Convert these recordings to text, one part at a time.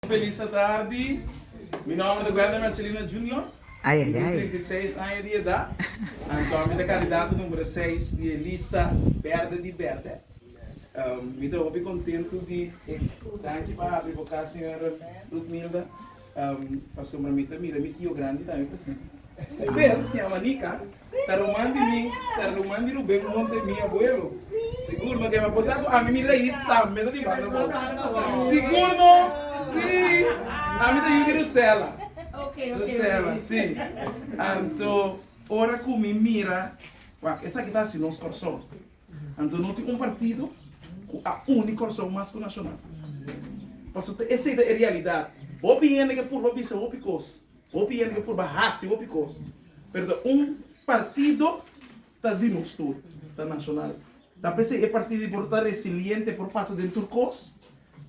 Felis atardi, mi nomber ta Wender Marcelino Junior, mi tin trinta i seis aña di edat, anto mi ta kandidato numero seis di e lista berde di berde. Mi ta hopi kontentu di e danki pa hapi boka señor Rutmilda, pasobra mi ta mira mi tio grandi tambe presente. Muhel si yama Nika, ta ruman di mi, ta ruman di Ruben huntu e mi abuelo. Sigur no, kema bosa ku ami mi rais tambe ta di banda bo? Sigur no, si, ami ta yu di Rutsela. Rutsela, si. Anto, ora ku mi mira, wak, esaki ta hasi nos korson. Anto no tin un partido ku a uni korson mas ku Nacional. Pasobra esei ta e realidat. Hopi hende ke purba bisa hopi kos. Hopi hende ta purba hasi hopi kos, pero ta un partido ta di nos tur, ta Nacional. Ta p'esei e partido por ta resiliente, por pasa den tur kos,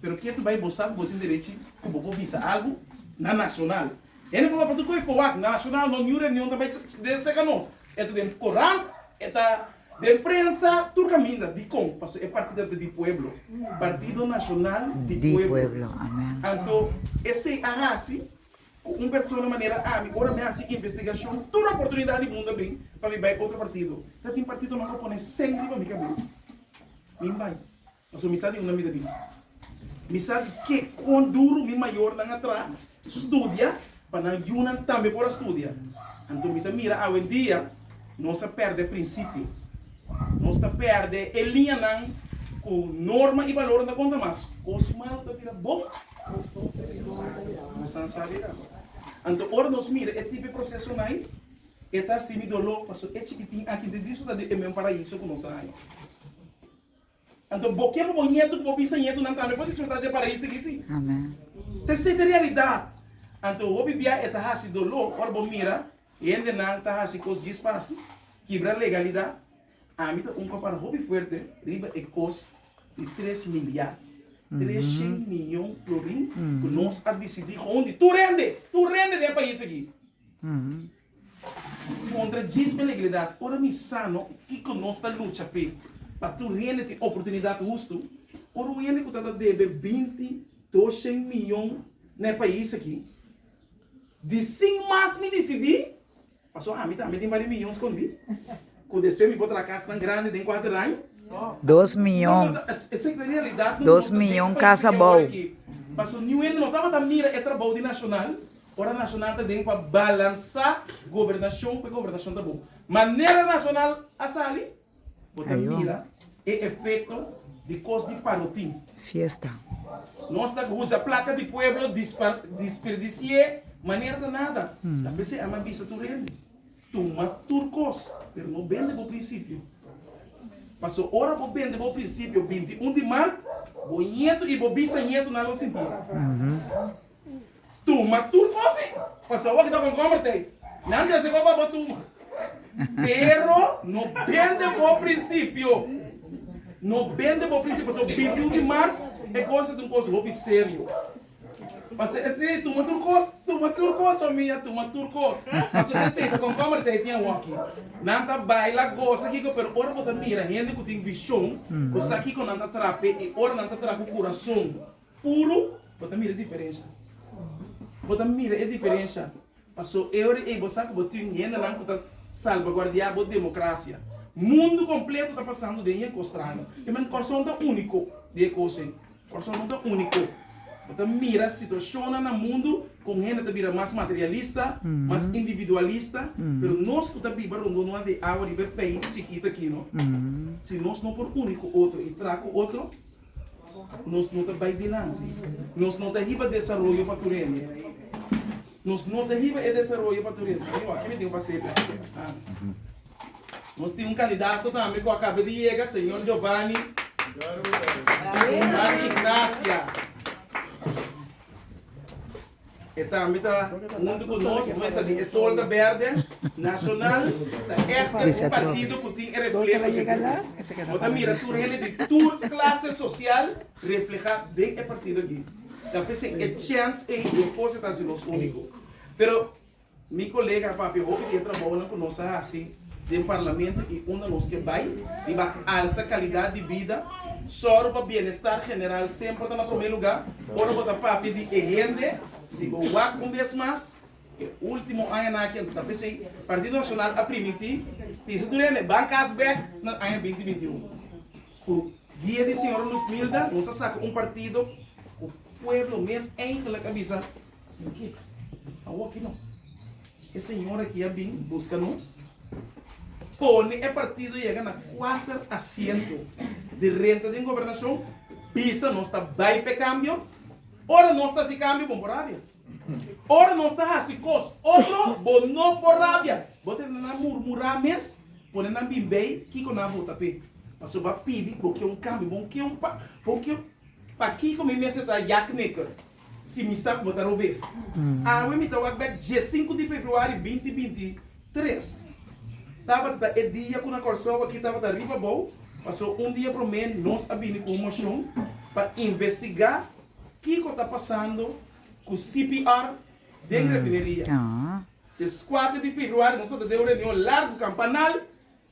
pero kier ta bai bo sa ku bo tin derechi ku bo por bisa algu na Nacional. Hende por bai pa tur koe for wak, Nacional no niun reunion ta bai den serka nos, e ta den korant, e ta den prensa, tur kaminda. Dikon? Pasobra e partido ta di pueblo, Partido Nacional di Pueblo. Anto esei a hasi Cu un persona manera ami, ora mi a haci investigacion, tur oportunidad di mundo a bin pa mi bay otro partido. Ta tin partidonan cu a pone seng riba mi cabes. Mi bay, pasobra mi sa di unda mi ta bin. Mi sa di ke con duro mi mayornan a traha, studia, pa nan yunan tambe por a studia. Anto mi ta mira awendia nos a perde principio. Nos ta perde e liñanan cu norma y valornan ta conta mas. Cos mal ta bira bon. Nos a sabi nan. Anto ora nos mira e tipo e prosesonan, e ta simi doló, pasobra e chikitin aki ta disfrutá di e meun paraíso ku nos a haña. Anto bo ke pa bo ñetu ku bo bisañetunan tambe por disfrutá dje paraíso aki? Sí. Ta esei ta realidat. Anto hopi bia e ta hasi doló ora bo mira hendenan ta hasi kos djispasi, kibra legalidat. Ami ta un compara hopi fuerte riba e cos di tres miliard, trescient miyon florin cu nos a dicidi hondi tur hende, tur hende den e pais aki contra djis belegalidad. Ora mi sa no kico nos ta lucha p'e pa tur hende tin oportunidad hustu, ora un hende cu ta ta debe binti, doscient miyon na e pais aki di sin mas mi dicidi, Paso ami tambe tin bari miyon scondi cu despues mi por traha cas nan grandi den cuatro raño. Dos miyon. Dos miyon cas abao. Paso New Hende no tabata mira e trabao di Nacional ora Nacional ta den pa balansa gobernacion pa e gobernacion ta bon. Manera Nacional a sali. Bo ta mira e efecto di cos di parotin. Fiesta. Nos ta usa placa di pueblo disperdicié manera ta nada. Ta p'esei a mi a bisa tur hende, tuma tur cos, pero no bende bo principio. Paso ora bo bende bo principio binti un di mart, bo ñeto y bo bisañetonan lo sinti. Tuma tur cose pa sa wak ta con converted. Nan ta seco pa bo tuma. Pero no bende bo principio. No bende bo principio pasobra bibliu di Mark e cos ta un cos hopi serio. Pasobra e siy tuma tur cos, tuma tur cos famia, tuma tur cos. Pasobra e siy ta con converted tin awaki. Nan ta baila, goza kico pero ora bo ta mira hende cu tin vision bo sa kico nan ta trape y ora nan ta trape cu curazon. Puru bo ta mira diferensha. Bo ta mira e diferensha. Paso e ora ei bo sa ku bo tin hendenan ku ta salbaguardia bo demokrasia. Mundu kompleto ta pasando den e kostraño. E men Kòrsou no ta úniko den e kos ei. Kòrsou no ta úniko. Bo ta mira situashonnan na mundu kon hende ta bira mas materialista, mas individualista. Pero nos ku ta biba rondó nua di awa riba e peis chikit aki no, si nos no por uni ku otro i traha ku otro, Nos no ta bai dilanti. Nos no ta hiba desaroyo pa Turene. Nos no ta hiba e desaroyo pa Turene. Ami awor, kibidi ku pas'e planta? Nos tin un kandidato tambe ku a kaba di yega, señor Jovani Guzman Ignacia. E tambe ta huntu ku nos pa mester di e tolda bèrdè nashonal ta ègt un partido ku tin e refleho dje. Bo ta mira tur hende di tur klase sosial reflehá den e partido akí. Ta p'esei e chèns ei un kos ku ta hasi nos úniko. Pero. Mi colega a papia hopi di e trabaonan cu nos a haci den Parlamento y unda nos ke bay riba alsa calidad di bida, soro pa bienestar general semper ta na prome lugar. Ora bo ta papia di e hende, si bo wak un bes mas, e ultimo añanan aki anto ta p'esey, Partido Nacional a primiti pisa tur hende ban cas bek na aña binti binti un. Cu guia di señora Lutmilda nos a saca un partido cu pueblo mes eigenlijk a bisa Tin ki a woki no. E señor aki a bin buska nos. Pone e partido yega na kuater asiento di renta den gobernacion. Bisa nos ta bai p'e cambio. Ora nos ta haci cambio bo no por rabia. Ora nos ta haci cos otro bo no por rabia. Bo ta nan murmura mes. Pone nan bin bay kico nan a vota p'e. Pasobra bo a pidi bo kier un cambio. Bo no kier un pa. Bo no kier un. Pakiko mi mester ta yaki maker? Si mi sa kuma ta robes. Awe mi ta wak bek diesinku di februari binti binti tres. Tabata ta e dia ku na Kòrsou aki tabata riba bou, pasó un dia promé nos a bini ku un moshon pa investigá kiko ta pasando ku CPR den refineria. Des kuater di februari nos a ta den un reunion largu kampanal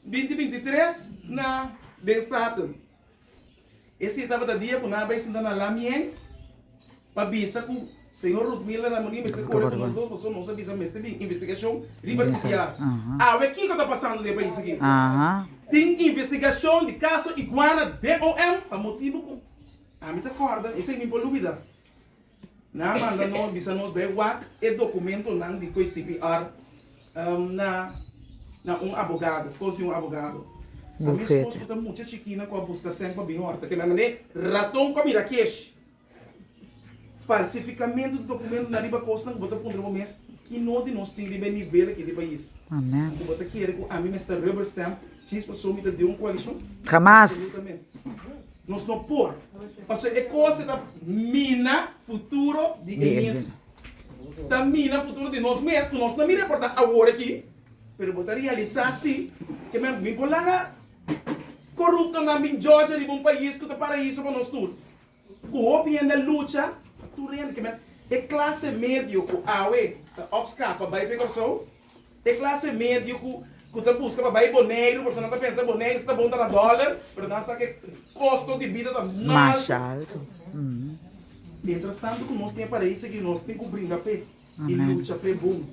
binti binti tres na den Staten. E si tabata dia ku nan a bai sinta na la mien pa bisa ku señor Ruth Miller Ramondi mester kore ku nos dos paso nos a bisa mester tin investigashon riba CPR. Awe kiko ta pasando den e pais aki. Tin investigashon di kaso Iguana DOM pa motibu ku ami ta kòrda esei mi por lubida. Nan a manda no a bisa nos bai wak e dokumentonan di koe CPR na na un abogado, kos di un abogado. A mi spos ku ta mucha chikina ku a buska sèn pa bini hòrta ke mi a manda e raton pa mira kesh. Falsifikamentu di dokumentonan riba kosnan ku bo ta puntra bo mes, kino di nos tin riba e nivel aki di pais? Ku bo ta kere ku ami mester rubber stamp chispa so mi ta di un koalishon? Hamas! Nos no por, pasobra e kos ei ta mina futuro di e hende. Ta mina futuro di nos mes, ku nos ta mira por ta awor aki, pero bo ta realisá si ke men bin por laga koruptonan bin jòdje riba un pais ku ta paraiso pa nos tur, ku hopi hende a lucha pa tur hende. E klase medio ku awe ta òpska pa bai den Kòrsou, E clase medio cu cu ta busca pa bay Boneiru pasobra nan ta pensa Boneiru si ta bon ta na dollar pero nan sa cu e costo di bida ta mas alto. Mientras tanto cu nos tin e paraíso aki nos tin cu bringa p'e y lucha p'e bon.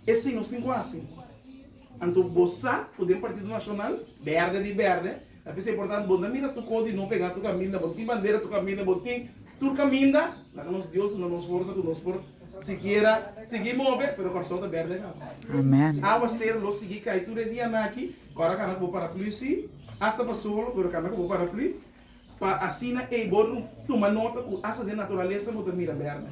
E si nos tin cu haci. Anto bo sa cu den Partido Nacional berde di berde. Na p'esei portantu, bo na mira tur kos di no pega tur kaminda, bo no tin bandera tur kaminda, bo no tin tur kaminda, laga nos Dios duna nos forsa ku nos por sikiera sigui move, pero ku asou ta bèrdè kawa. Awaseru lo sigui kai tur e dianan aki, ku a kana ku bo paraplü si, asta pa solo, pero kana ku bo paraplü, pa asina ei bo tuma nota ku asta den naturalesa bo ta mira bèrdè.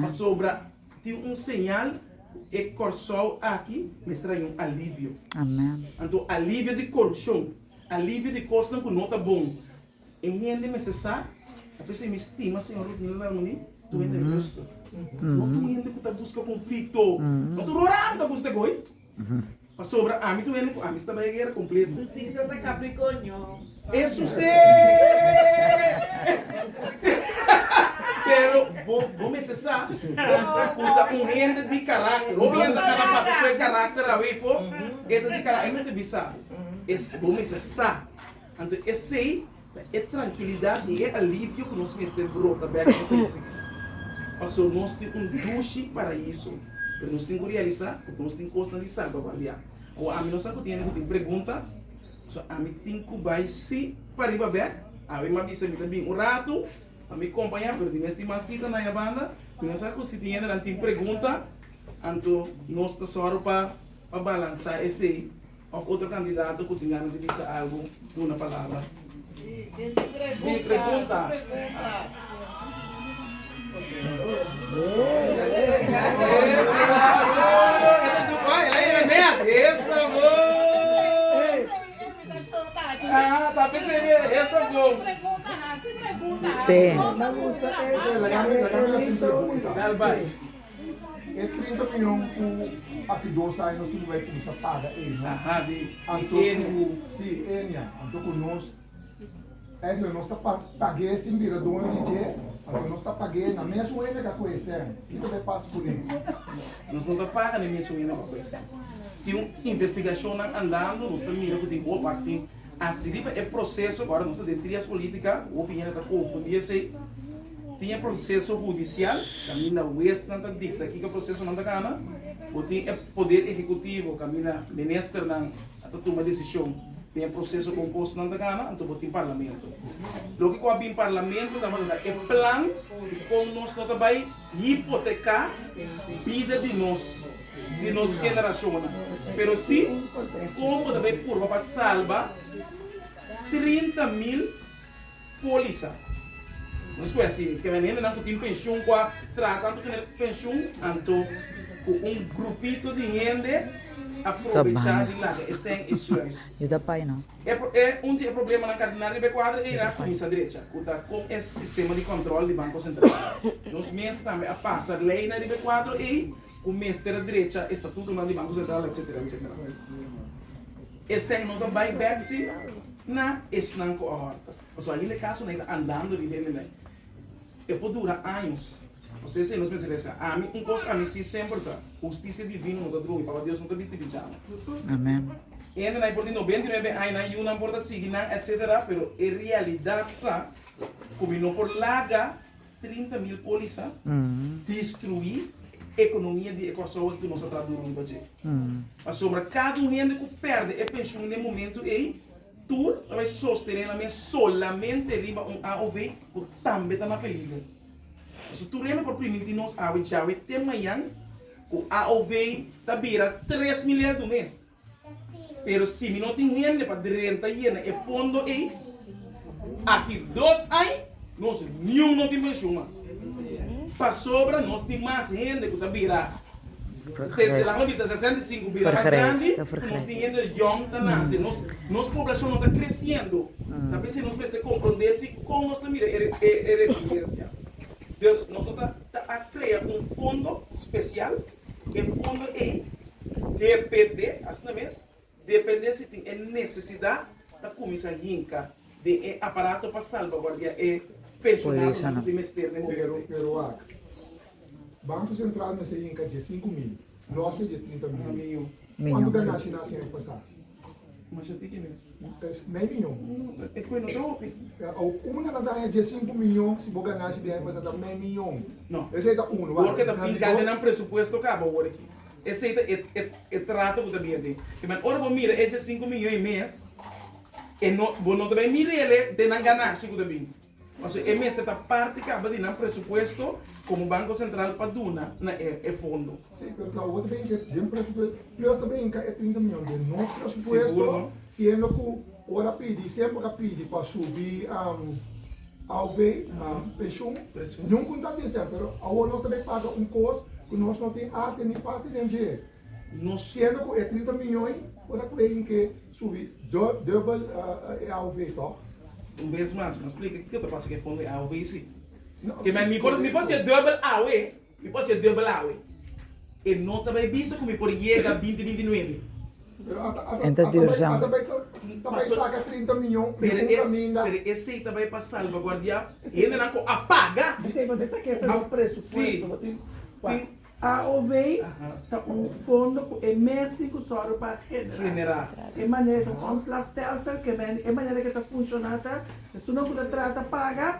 Pasobra, Tin un señal cu e Corsou aki mes trae un alivio. Amen. Anto alivio di corupcion, alivio di cosnan cu no ta bon. E hende mester sa, a pesar mi stima señor Rudnil Ralmony, tur hende rusto. No tur hende cu ta busca conflicto. No tur horan cu ta busca te goy. Pasobra ami ta wende ku ami staba e guera kompletu. Su signo ta Capricornio. E susé! Pero bo bo mester sa ku ta un hende di karakter. Hopi hende ta kaba papia ku e karakter awe por e ta di karakter. E mester bisa bo mester sa anto esei E trankilidat i e alivio ku nos mester brota bèk den korason. Pasobra nos tin un dushi Paraíso, pero nos tin ku realisá ku nos tin kosnan di salbaguardiá. Awa ami no sa ku tin hende ku tin pregunta, so ami tin ku bai sí pa riba bèk. Awe mi a bisa mi ta bin un ratu pa mi kompañá, pero di mes tin mas sita na e banda. Mi no sa ku si tin hendenan tin pregunta, anto nos ta sòru pa balansá esei. Of otro candidato cu tin gana di bisa algo, duna palabra. Mi pregunta. E trinta mion ku aki dos aña nos tin por bai kuminsá paga enia. Anto ku, si, enia. Anto ku nos, èkla, nos ta pag'é sin bira doño di dje. Anto nos ta pag'é na mesun enia ku a ko'é sèn. Kiko ta pasa ku nin? Nos no ta paga na e mesun enia ku a ko'é sèn. Tin un investigashon nan andando, nos ta mira ku tin hopi aki tin. Hasi riba e proseso, ora nos ta den trias politica, hopi hende ta confundi esey. Tin e proceso hudicial, caminda huesnan ta dicta kico procesonan ta gana, bo tin e poder ehecutivo, caminda Ministernan a ta tuma decision den e proceso con cosnan ta gana, anto bo tin Parlamento. Loke cu a bin Parlamento tabata e plan di con nos no ta bay. hipoteká bida di nos, di nos generashonnan, pero sí kon bo ta bai purba pa salba trinta mil pólisa. Bo ta skuenta si te bende hendenan ku tin penshun ku a traha tantu ku nel penshun, anto ku un grupito di hende a probechá di laga esei e sueldo. E pro e un di e problemanan kardinar riba e kuadro ei ra kuminsa drecha, ku ta kon e sistema di kòntròl di Banko Sentral. Nos mes tambe a pasa lei nan riba e kuadro ei ku mester a drecha e statutonan di Banko Sentral, etsetera, etsetera. Esei no ta bai bèk si na esnan ku a hòrta. Pasobra ainda e kasonan ei ta andando riba e nivel. E por dura años. José siña, Nos mester resa. Ami, un kos ami sí semper sa, hustisia divino no ta drui, pabia Dios no ta bisti bijama. Hendenan por di no beinti nuebe aña, nan yunan por ta sigui nan, etc. Pero e realidat ta ku mi no por laga trinta mil pólisa destruí ekonomia di e Kòrsou aki ku nos a traha duru riba dje. Pasobra kada un hende ku pèrdè e penshun den momentu ei, Tur lo bay sostené nan mes solamente riba un AOV cu tambe ta na peligro. Pasobra tur hende por priminti nos awe djawe te mayan cu AOV ta bira tres mil lei tur mes. Pero si mi no tin hende pa drenta yena e fondo ey, aki dos ai nos niun no tin pensioen mas. Pasobra nos tin mas hende ku ta bira, laga mi bisa, sesenta i sinku bira mas grandi, ku nos tin hende yòn ta nase. Nos poblashon no ta kresiendo, ta p'esei nos mester komprondé si kon nos ta mira e residensia. Dus nos lo ta a krea un fondo spesial, e fondo ei dependé, asina mes, Depende si tin e necesidad ta cuminsa hinca den e aparato pa salvaguardia e pensionado nan cu tin mester den momento ey. Pero wak, Banco Central mester hinca dje sinku mil, nos lo dje trinta mil. Cuanto ganashi nan hacinan e pasa? Masha tiki mes. Nai miyon. E cu e no ta hopi. Una ta daña dje sinku miyon, si bo ganashi den aña pasa ta nai miyon. Esey ta uno. Wak, nan di dos. Wordo ta pinca den nan presupuesto caba awor aki. Esei ta e e trato ku ta bia den e mes. Ora bo mira e dje sinku miño e mes, e no bo no ta bai mira ele den nan ganashi ku ta bin, paso e mester ta parti kaba di nan presupuesto komo Banko Sentral pa duna na e e fondo. Sí, pero ta oba ta bin e den presupuesto, plus ta bin ka e trinta miñon den nos presupuesto, siendo ku ora pidi semper bo ta pidi pa subi. Av na penshun, nunkun ta tin ser, pero awor nos ta bay paga un kos ku nos no tin arte ni parti den dje. Nos siendo ku e trinta mion por a pregin ke subi dubel e AOV, tòg? Un bes mas, mi ta splika kiko ta pasa ku e fondo di AOV, si. Ke mi por hasi e dubel AOV. Mi por ser duebel awe. E no ta bay bisa cu mi por yega binti binti nuebe. Pero a ta, a ta, a ta bay, a ta bay, ta bay saca trinta miyon den un caminda. Pero esey ta bay pa salvaguardia hendenan cu a paga. Mi siempre ta esaki esa no presupuesto. Bo tin, tin, AOV ta un fondo cu e mes tin cu zorgo pa genera. E manera, es un omslagstelsel, ke men, e manera ke ta funciona ta, esun nan cu ta trata paga,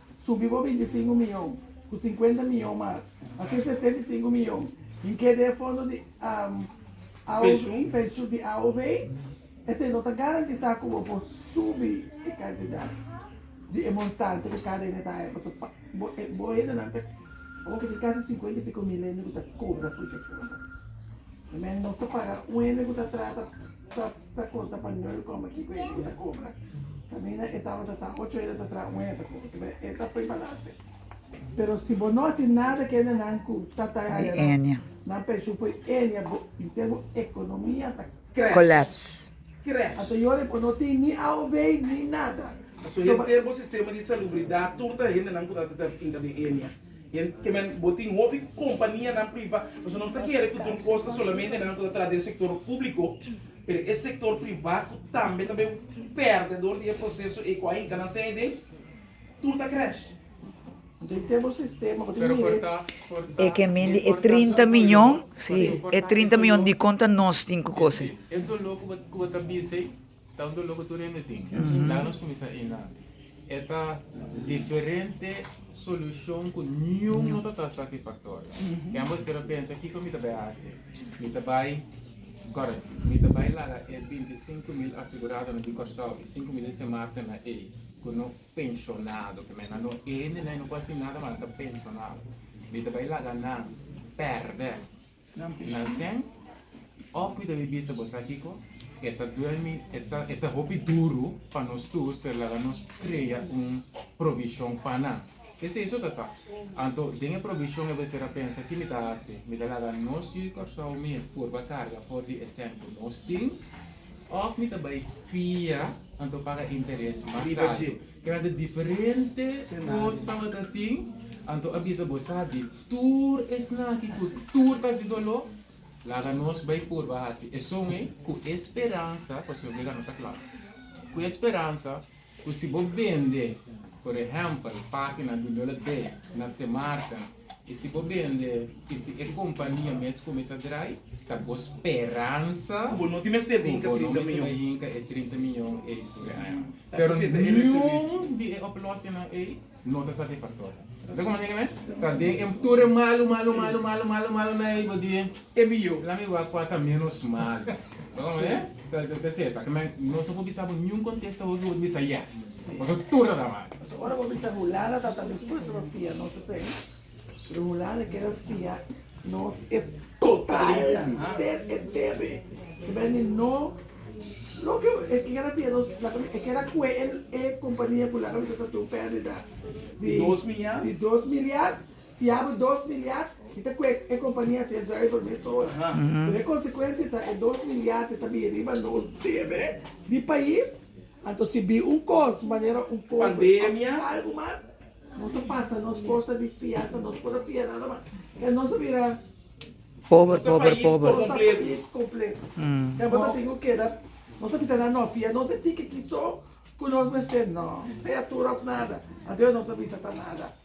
Subi bo binti sinku miyon ku sinkuenta miyon mas, asina setenta i sinku miyon tin ke den e fondo di penshun di AOV. Esei no ta garantisá ku bo por subi e kantidat di e montante ku kada hende ta haña. Pasobra pa bo hendenan ta ora ku tin kasi sinkuenta i piko mil hende ku ta kobra afruta e fondo. Mester paga un hende ku ta trata pa. ta konta pa nan kòm a kiko e hende ku ta kobra. Kaminda e tabata ta ocho hende ta traha, un hende ta kobra. Kibe? E ta poi balanse. Pero si bo no hasi nada ku hendenan ku ta ta e área nan, nan penshun for di énia, bo inte bo ekonomia ta krèsh. Ata yora bo no tin ni AOV ni nada. Pasobra bo sistema di salubridat tur ta hendenan ku ta ta ta finka den énia. Kimen, bo tin hopi kompanianan priva, pasobra nos ta kere ku tur kos ta solamente nan ku ta tras di e sektor públiko, pero e sektor priva ku tambe ta bin pèrdedor di e proseso ei ku ainka nan sai den, tur ta krèsh. Enton tem un sistema, bo tin mire. E ke men di e trinta miñon, si, e trinta miñon dikon ta nos tin ku kos ei? Ta un dolor cu tur hende tin. La nos cuminsa ey na e ta diferente solucion cu niun no ta ta satisfactorio. Tem bo estra pensa kico mi ta bay haci. Mi ta bay, correct, mi ta bay laga e binti i sinku mil aseguradonan di Corsou i sinku mil di Sin Marten na ey cu no pensionado, cu nan no e hende na ey no por haci nada mas nan ta pensionado. Mi ta bay laga nan perde. Nan sèn, òf mi ta bin bisa bosá kiko, e ta duermi, e ta hopi duru pa nos tur, pero laga nos krea un provishon pa nan. Esei so ta ta. Anto, den e provishon e mester a pensa, ki mi ta hasi? Mi ta laga nos yu di Kòrsou mes por ba karga for di e sèn ku nos tin, òf mi ta bai fia, anto paga interes mas altu? Kada diferente kos tabata tin, anto a bisa bo sa di tur esnaki ku tur klase di doló, laga nos bai purba hasi esun ei ku e speransa, pasobra Biblia no ta kla, ku e speransa ku si bo bende, por ehèmpel, página di doló dei na se marka. I si bo bende i si e kompania mes kuminsá drai, ta bo speransa ku bo no tin mester hinka e trinta mion ei tur e aña. Pero niun di e oplòsingnan ei no ta satisfaktorio. Mira komo niña mi ta den e tur e malu, malu, malu, malu, malu, malunan ei, bo di e biyo, lami wak kua ta ménos malu. Mira komo ta seta, nos no por bisa bo niun kontesta hopi bo ta bisa yes. Paso tur a dama. Paso ora bo bisa hulanda ta ta dispuesto pa fia nos esei, pero hulanda kere fia nos e totalidad, enter e tebe. Ta bira di no loke e kere fia nos, laga mi e kera kue e compania ku laga bisa ta tin un perdida di di dos miliard, fia bo dos miliard mi ta kue e compania a ser zuiver mes ora. Pero e consecuencia ta e dos miliard e ta bin riba nos tebe di pais. Anto si bi un kos manera un kobe pandemia of algu mas nos a pasa nos forsa di fiansa nos por a fia nada mas e nos a bira pober pober pober nos ta fayit completo e bo ta tin cu keda nos a bisa nan no fia nos e tin cu kiso cu nos mester no sea tur of nada aden nos a bisa ta nada.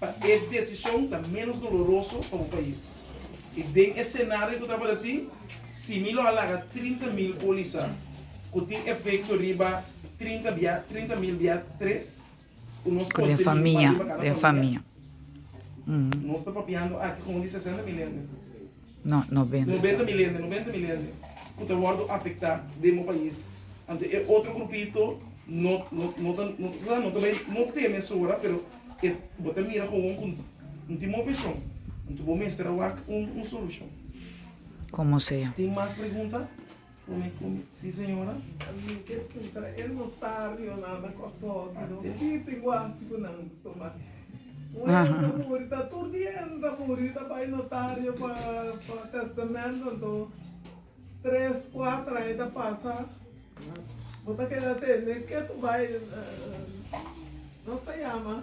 pa e desishon ta menos doloroso pa bo pais. I den e senario ku tabata tin, Simi lo a laga trinta mil polisa ku tin efekto riba trinta bia, trinta mil bia tres, ku nos Ku por den tene un familia, pandi pa kada den familia. familia. Nos ta papiando aki kon di sesenta mil hende. No, nobenta mil hende ku ta wòrdu afektá den bo pais. Anto e otro grupito no ta bai no te mesora pero bo ta mira kowon ku no tin bon vishon. Anto bo mester a wak un solushon. Tin mas pregunta? Con e con. Sí, señora. Mi ke puntra e notario nan na Kòrsou aki no. Ki tinguasi ku nan tuma. Un hènta muri, ta tur di hènta muri ta bai notario pa pa tèstamèntu anto tres, kuater aña ta pasa. Bo ta keda tende ke ta bai nos ta yama.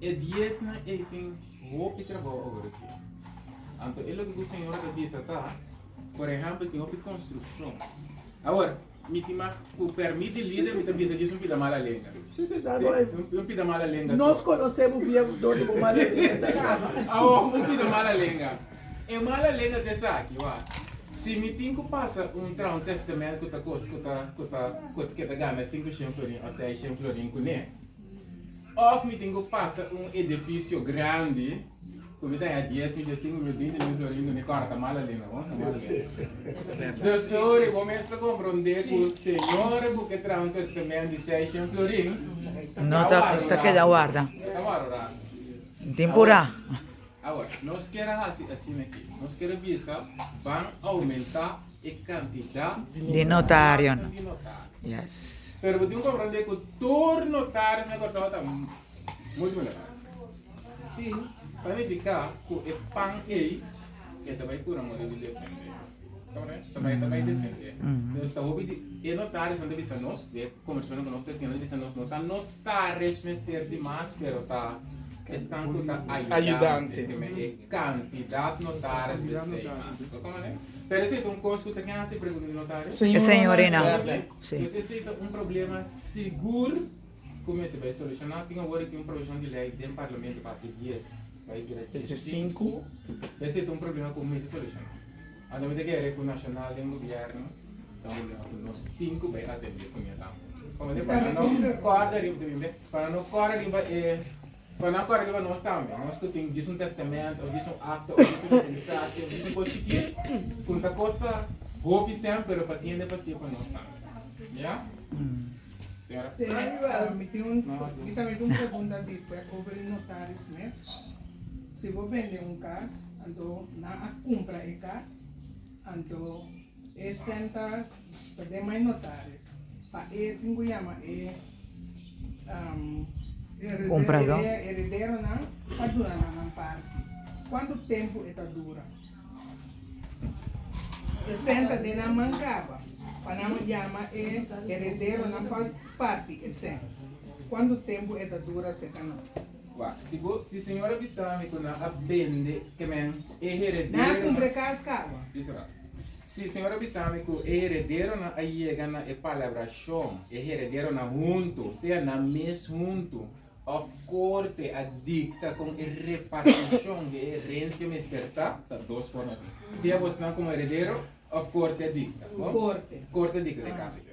E diesnan ei tin hopi trabou ora dje. Anto e loke ku señora ta bisa ta, por ehèmpel tin hopi konstrukshon. Awor, mi tin mag ku pèrmit di lider mi ta bisa dje es un pida mala lenga. Sí, sí, ta Sí, doy. un, un pida mala lenga Nos so. conoce muy bien dónde vos mal Awor, un pida mala lenga. E mala lenga ta esaki, wak, si mi tin ku pasa un traha un tèstamènt ku ta kos ku ta ku ta ku ta ke ta gana sinku shen florin òf seis shen florin kuné? Òf mi tin ku pasa un edifisio grandi ku mi ta haña dies mil, dies sinku mil, binti mil florin kuné? Kòrta, mala lenga, wak, ta mala lenga. Dus e ora ei bo mes ta komprondé ku señor ku ke traha un tèstamènt di seis shen florin ta warda, ta keda warda. Tin purá. Awor, nos kier a hasi asin aki. Nos kier a bisa ban oumentá e kantidat di nos aranjanan di notario. Pero bo tin ku komprendé ku tur notario na Kòrsou ta multimilionario. Tin ta nifiká ku e pan ei e ta bai kura modi di defendé. Tambe e ta bai defendé. Entonces ta hopi di e notariosnan ta bisa nos, di e konversashonnan ku nos ta tin, nan ta bisa nos no ta nos. Ta resh mester di mas, pero ta esnan ku ta ayudante teme e kantidat notaris di seis mas. Koto manera? Pero esei ta un kos ku ta ken hasi, pregunta di notaris? E señorinan. Dus esei ta un problema sigur ku mester bai solushoná. Tin awor e tin un provishon di lei den Parlamento pa hasi dies, bai bira djisinku. Esei ta un problema ku mester solushoná. Anto mi ta kere ku nashonal den gobièrnu ta obliga ku nos tin ku bai atendé ku ña tambe. Kòm así pa nan no kòrda riba, tin bimbé? Pa nan no kòrda riba e, pa nan kòrda riba nos tambe, nos ku tin djis un tèstamènt òf djis un akta òf djis un otorisasio òf djis un kos chikí ku ta kosta hopi sèn pero pa tiende pa hacié pa nos tambe. Ya? Señora. Señor, mi tin un, mi tambe tin un pregunta di, pue, over di notaris mes. Si bo bende un kas. Anto nan a cumpra e cas. Anto e senta ta den mai notaris pa e tin cu yama e erederonan pa duna nan nan parti. Cuantu tempo e ta dura? E senta den nan man caba pa nan yama e erederonan pa parti e senta. Cuantu tempo e ta dura seca nan? Wak, si bo, si Señor a bisa mi ku nan a bende kemen e heredero. Disa wak, si Señor a bisa mi ku e herederonan a yega na e palabrashon, e herederonan huntu, sea nan mes huntu, òf korte a dikta kon e repartishon di e herensia mester ta, ta dos forma aki, sea bosnan komo heredero òf korte a dikta. Korte a dikta ta e kaso aki.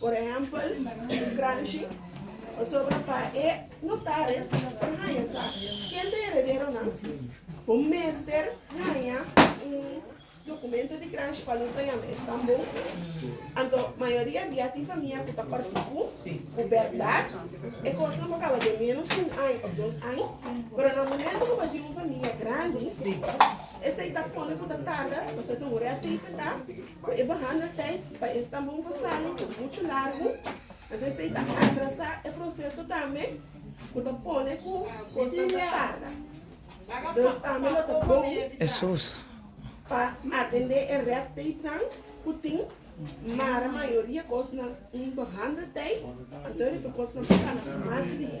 Por ehèmpel, un granshi, pasobra pa e notaris por haña sa ken ta herederonan, bo mester haña un dokumentu di granshi, kual nos ta yama e stambou. Anto mayoria bia tin famia ku ta kòrti ku ku bèrdat e kosnan por kaba den ménos ku un aña òf dos aña. Pero na momentu ku bo a tin un famia grandi, esei ta pone ku ta tarda, pasobra ta horer a tei fetá. Cu e baha na tijd pa e stambon cu sali cu mucho largo, anto esey ta atrasa e proceso tambe cu ta pone cu cosnan ta tarda. Dus tambe lo ta bon pa atende e red tapenan cu tin, mara mayoria cosnan un baha na tijd, anto riba cosnan ta cana mas riba.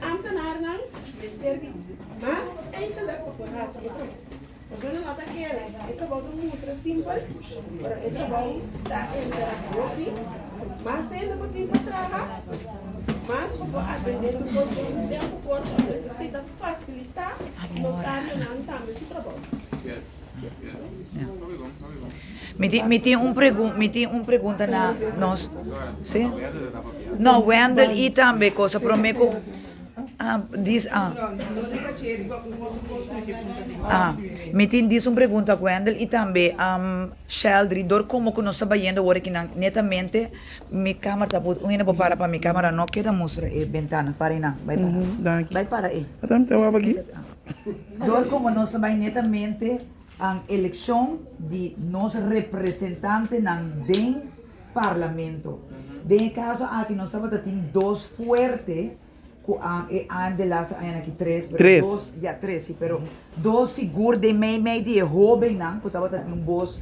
Amtenarnan mester di mas eindelijk op hun rasa y trobo. Persona no ta kere e trobou ta mustra simpel, pero e trobou ta ensera hopi. Mas hende bo tin pa traha, mas bo por aprende tur cos den un tempo corto. Bo necesita facilita los camionan tambe su trobou. Mi tin un pregunta, mi tin un pregunta na nos, si? No, Wendel i tambe cosa prome ku ah dis ah ah mi tin dis un pregunta ak Wendel i tambe Sheldry dor komo ku nos ta bayendo wor aki nan netamente mi kamera ta apurdu un hende por para pa mi kamera no keda mustra e bentana para e nan bai para bai para e. Dor como nos ta bay netamente an eleccion di nos representantenan den Parlamento. Den e caso aki nos tabata tin dos fuerte cu a e aña de lasa aña aki tres, pero Tres. dos, ya tres si, pero dos sigur den mey mey di e hobennan cu tabata tin un bos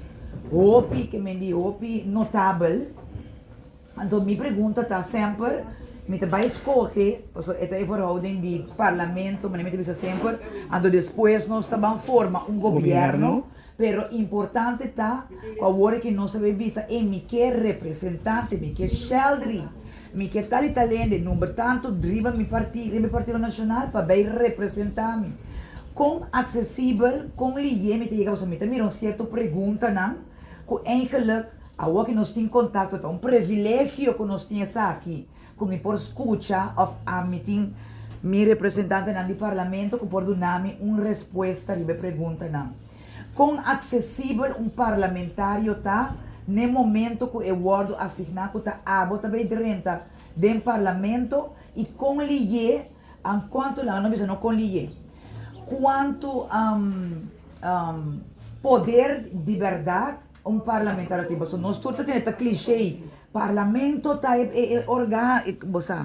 hopi, ke men di hopi, notabel. Anto mi pregunta ta semper mi ta bai skohe paso e ta e verhouding di parlamento manera mi ta bisa semper anto despues nos ta ban forma un gobièrnu pero importante ta ku awor e ke nos a bai bisa ey mi ke representante mi ke Sheldry mi ke tal y tal hende number tanto riba mi partido riba e partido nacional pa bai representa mi kon aksesibel kon lihé mi ta yega paso mi ta mira un sierto preguntanan. Cu eigenlijk, awo ki nos tin contacto ta un privilegio cu nos tin esaki, cu mi por scucha of a mi tin mi representantenan di Parlamento cu por duna mi un respuesta riba e preguntanan. Con accesibel un parlamentario ta n'e momento cu e wordo asigna cu ta abo ta bay drenta den Parlamento y con liye, An cuanto langa no bisa no con liye cuanto poder di berdad un parlamentario tin paso nos tur ta tene ta cliche parlamento ta e organo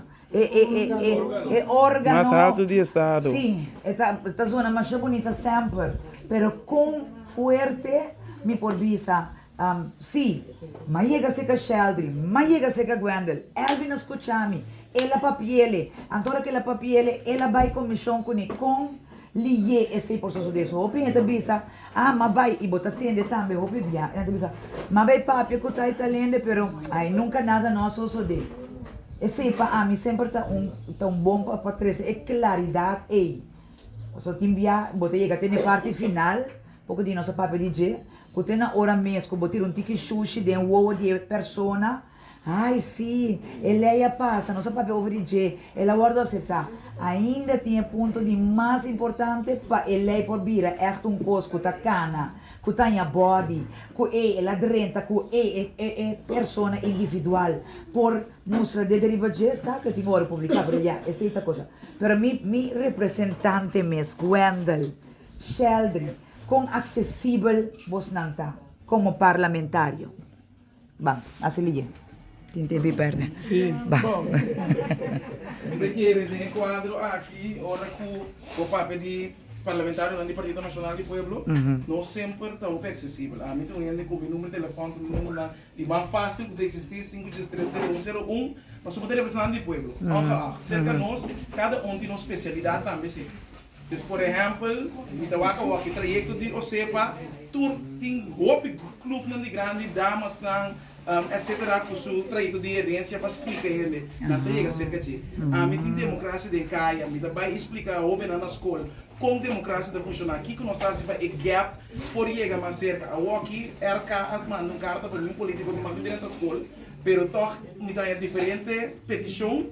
si e ta zona masha bunita semper pero con fuerte mi por bisa Si, ma yega seca Sheldry, ma yega seca Gwendel. Elvin a scucha mi. El a papiele. Anto ora cu el a papiele, el a bay comision cune con liye esey por sucede. So hopi hende ta bisa, Ah, ma bay y bo ta tende tambe hopi bia. Elanta bisa, Ma bay papia cu tai talende, pero ay nunca nada no a sucede. Esey pa ami semper ta un, ta un bon pa trece e claridad ey. Pasobra tin bia bo ta yega te na e parti final, Poko di nos a papia di dje, ku te na ora mes ku bo tira un tiki shushi den wowo di e persona. Ai sí, e lei a pasa, nos a papia over di dje, el a wòrdu aseptá. Ainda tin e punto di mas importante pa e lei por bira ègt un kos ku ta kana, ku ta haña bòdi, ku ei el a drenta, ku ei e persona individual por mustra dje den riba dje, ta ku e tin ora publiká, pero ya, esei ta kosa. Pero mi, mi representante mes, Wendel. Sheldry, Con accesibel bosnan ta como parlamentario? Ba, así liye. Tin tempo di perde. Sí. Ba. Bo ta kere den e cuadro aki, ora cu bo papia di parlamentarionan di Partido Nacional di Pueblo, no semper ta hopi accesibel. Ami ta un hende cu mi number di telefon ta un numbernan di mas facil cu ta existi, sinku tres tres sero un sero un, pasobra bo ta representante di pueblo, ongeacht cerca nos, cada un tin un specialidad tambe sey. Des por ehèmpel, mi ta wak awor ku trayekto di OSEPA tur tin hopi klupnan di grandi, damasnan, etc. Ku su trayekto di herensia pa splika hende. Nan ta yega serka dje. Ami tin demokrasia den kaya. Mi ta bai i splika hóbennan na skol kon demokrasia ta funshoná, kiko nos ta hasi pa e gèp por yega mas serka. Awor aki RK a manda un karta pa mi, un polítiko, mi manda bira nan ta skol, pero tòg mi ta haña diferente petishon.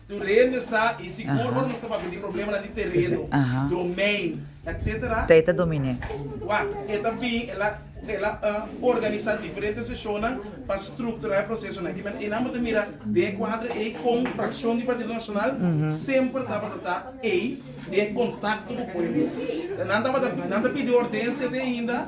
Terreno sa y sigur ora nos ta papia di problemanan di terreno, domein, etc. Ta e ta dominé. Wak, e ta bin, el a el a organisa diferente sesionnan pa structura e procesonan. Aki men einan bo ta mira den e cuadro ei con fraccion di Partido Nacional semper tabata ta ei den contacto cu pueblo. Nan tabata nan ta pidi ordencia te ainda.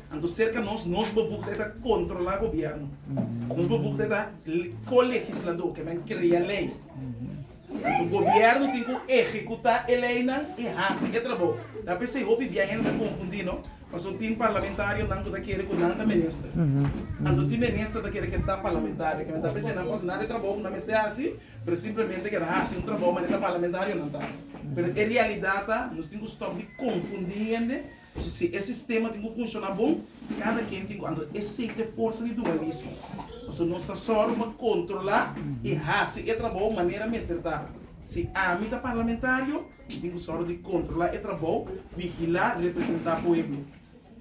Anto serka nos, nos bevoegdheid ta controla gobierno. Nos bevoegdheid ta co-legislador, ke men crea ley. Anto gobierno tin cu ehecuta e leynan y haci e trabao. Ta p'esey hopi bia hende ta confundi, no? Pasobra tin parlamentarionan cu ta kere cu nan ta minister. Anto tin minister ta kere cu e ta parlamentario. Ke men ta p'esey nan pas nada e trabao cu nan mester haci, pero simplemente keda haci un trabao manera ta parlamentarionan ta. Pero e realidad ta nos tin cu stop di confundi hende. Pasobra si e sistema tin ku funshoná bon, kada ken tin ku anto esei ta e forsa di dualismo. Pasobra nos ta sòru pa kontrolá i hasi e trabou manera mester ta. Si ami ta parlamentario, mi tin ku sòru di kontrolá e trabou, vigilá, representá pueblo.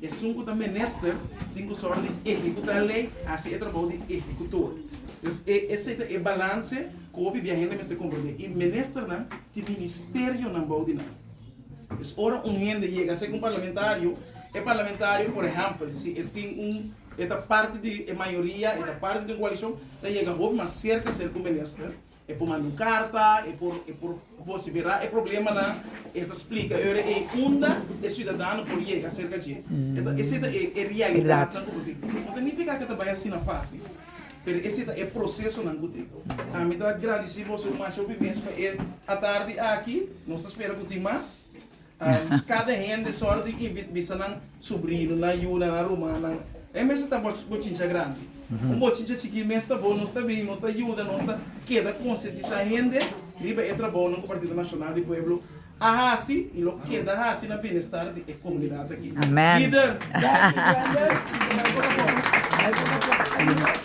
Esun ku ta minister tin ku sòru di ehekutá lei, hasi e trabou di ehekutor. Entonces, e esei ta e balanse ku hopi bia hende mester komprendé. I ministernan tin ministerionan bou di nan. Pues ora un hende yega ser un parlamentario, e parlamentario por ehempel si e tin un e ta parti di e mayoria, e ta parti di un coalicion, ta yega hopi mas cerca ser cu minister, e por manda un carta, e por e por vocifera e problemanan, e ta splica ora ey unda e ciudadano por yega cerca dje. Esey ta e e realidadnan cu bo tin. No ta nifica cu ta bay asina facil. Pero ese ta e procesonan cu tin. A mi ta grandeci boso mas hopi mes pa e atardi aki. Nos ta spera cu tin mas. Cada hende sor di invita bisa nan subrinonan, yunan, a rumannan. E mes ta bo bochincha grandi. Un bochincha chikí mes ta bon. Nos ta bini, nos ta yuda, nos ta keda concientisa hende riba e trabaonan cu Partido Nacional di Pueblo a haci y lo keda haci na binestar di e comunidad aki. Lider.